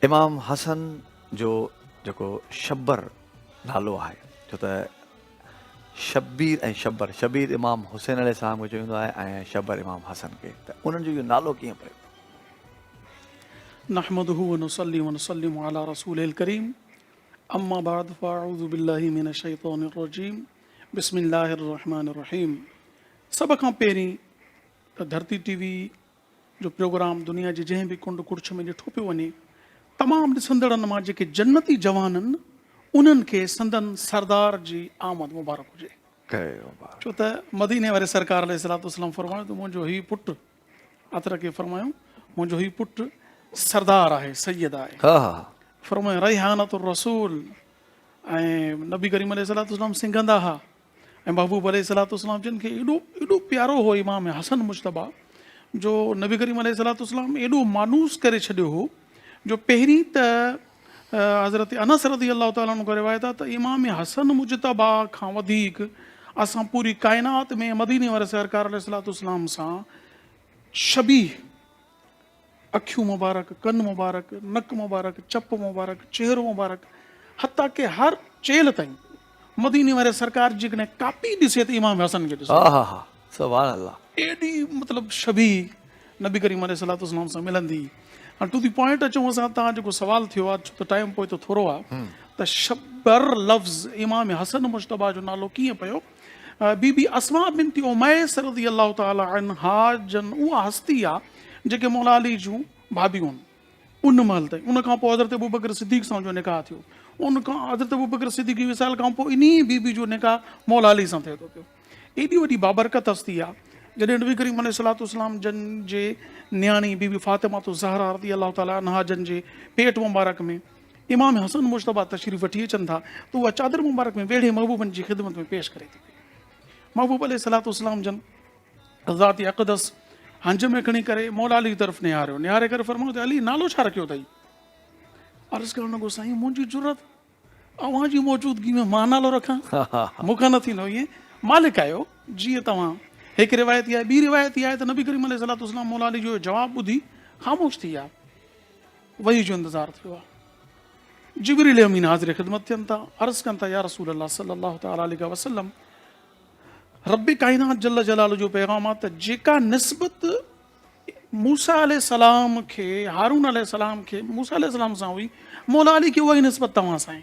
امام حسن جو جيڪو شبر نالو آهي ڇو ته شبير ۽ شبر، شبير امام حسين عليه السلام کي چيو ويندو آهي ۽ شبر امام حسن کي ته انهن جو اهو نالو ڪيئن پيو؟ نحمده ونصلي ونسلم علي رسوله الڪريم اما بعد فاعوذ بالله من الشيطان الرجيم بسم الله الرحمٰن الرحيم سڀ کان پهرين ته ڌرتي ٽي وي جو پروگرام دنيا جي جنهن به ڪنڊ ڪڙڇ ۾ ڏٺو پيو وڃي، تمام ڏسندڙن مان جيڪي جنتي جوانن انهن کي سندن سردار جي آمد مبارڪ هجي. ڇو ته مديني واري سرڪار عليه الصلوة والسلام فرمايو ته منهنجو هي پٽ، عطر کي فرمايو منهنجو هي پٽ سردار آهي، سيد آهي. فرمايو ريحانة الرسول ۽ نبي ڪريم عليه الصلوة والسلام سنگهندا ها. ۽ محبوب عليه الصلوة والسلام جن کي ايڏو ايڏو پيارو هو امام حسن مجتبيٰ جو نبي ڪريم عليه الصلوة والسلام ايڏو مانوس ڪري ڇڏيو هو جو پهرين ته حضرت انس رضي الله تعالٰي عنه کان روايت آهي ته امام حسن مجتبيٰ کان وڌيڪ اسان پوري ڪائنات ۾ مديني واري سرڪار عليه الصلوة والسلام سان شبيهه اکيون مبارڪ، ڪن مبارڪ، نڪ مبارڪ، چپ مبارڪ، چهرو مبارڪ، حتيٰ ڪه هر چيلهه تائين. مديني واري سرڪار جيڪڏهن ڪاپي ڏسي ته امام حسن کي ڏسي. سبحان الله. ايڏي مطلب شبيهه نبي ڪريم عليه الصلوة والسلام سان ملندي. هاڻ ٽو دي پوائنٽ اچون اسان تان جيڪو سوال ٿيو آهي ڇو ته ٽائيم پوئتو ٿورو آهي ته شبر لفظ امام حسن مجتبيٰ جو نالو ڪيئن پيو؟ بي بي اسماء بنت اميس رضي الله تعالٰي عنها جن اها هستي آ جيڪي مولا علي جون ڀاڀيون هن ان مهل تائين ان کان پوء حضرت ابوبڪر صديق سان جو نڪاح ٿيو ان کان حضرت ابوبڪر صديق جي وصال کان پوء انهي بي بي جو نڪاح مولا علي سان ٿئي ٿو پيو ايڏي وڏي بابرڪت هستي آ جڏهن نبي ڪريم عليه الصلوۃ والسلام جن جي نياڻي بي بي فاطمه الزهرا رضي الله تعالٰي عنها جن جي پيٽ مبارڪ ۾ امام حسن مجتبيٰ تشريف وٺي اچن ٿا ته اها چادر مبارڪ ۾ ويڙهي محبوبن جي خدمت ۾ پيش ڪري ٿي پئي. محبوب عليه الصلوة والسلام جن ذات اقدس هنج ۾ کڻي ڪري مولا علي طرف نهاريو، نهاري ڪري فرمايو ته علي نالو ڇا رکيو اٿئي؟ عرض ڪرڻ لڳو سائين منهنجي جرئت اوهان جي موجودگي ۾ مان نالو رکان مون کان نه ٿيندو ائين مالڪ آهيو جيئن توهان هڪ روايت اها آهي ٻي روايت اها آهي ته نبي ڪريم عليه الصلوة والسلام مولا علي جو اهو جواب ٻڌي خاموش ٿي ويا. وحي جو انتظار ٿيو آهي. جبريل امين حاضر خدمت ٿين ٿا، عرض ڪن ٿا يا رسول الله صلي الله تعالٰي عليه وسلم رب ڪائنات جل جلاله جو پيغام آهي ته جيڪا نسبت موسيٰ عليه السلام کي هارون عليه السلام کي موسيٰ عليه السلام سان هئي، مولا علي کي اها ئي نسبت توهان سان آهي.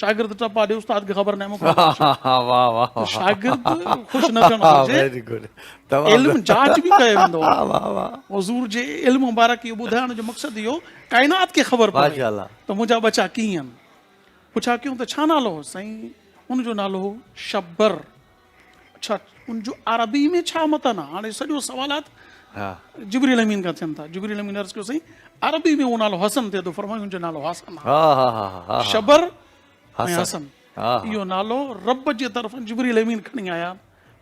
شاگرد ٽپا ڏي استاد کي خبر ناهي مون کان ته شاگرد خوش نه ٿيڻ گهرجي علم جاچ به ڪيو ويندو آهي حضور جي علم مبارڪ اهو ٻڌائڻ جو مقصد اهو ڪائنات کي خبر پوي ته منهنجا ٻچا ڪيئن آهن پڇا ڪيون ته ڇا نالو هو سائين ان جو نالو هو شبر اڇا ان جو عربي ۾ ڇا متن آ هاڻي سڄو سوالات جبريل امين کان ٿين ٿا جبريل امين عرض ڪيو سائين عربي ۾ اهو نالو حسن ٿئي ٿو فرمايو ان جو نالو حسن آ شبر ۽ حسن اهو نالو رب جي طرفن جبريل امين کڻي آيا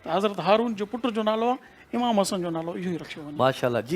ته حضرت هارون جو پٽ جو نالو آ امام حسن جو نالو اهو ئي رکيو وڃي ماشاءالله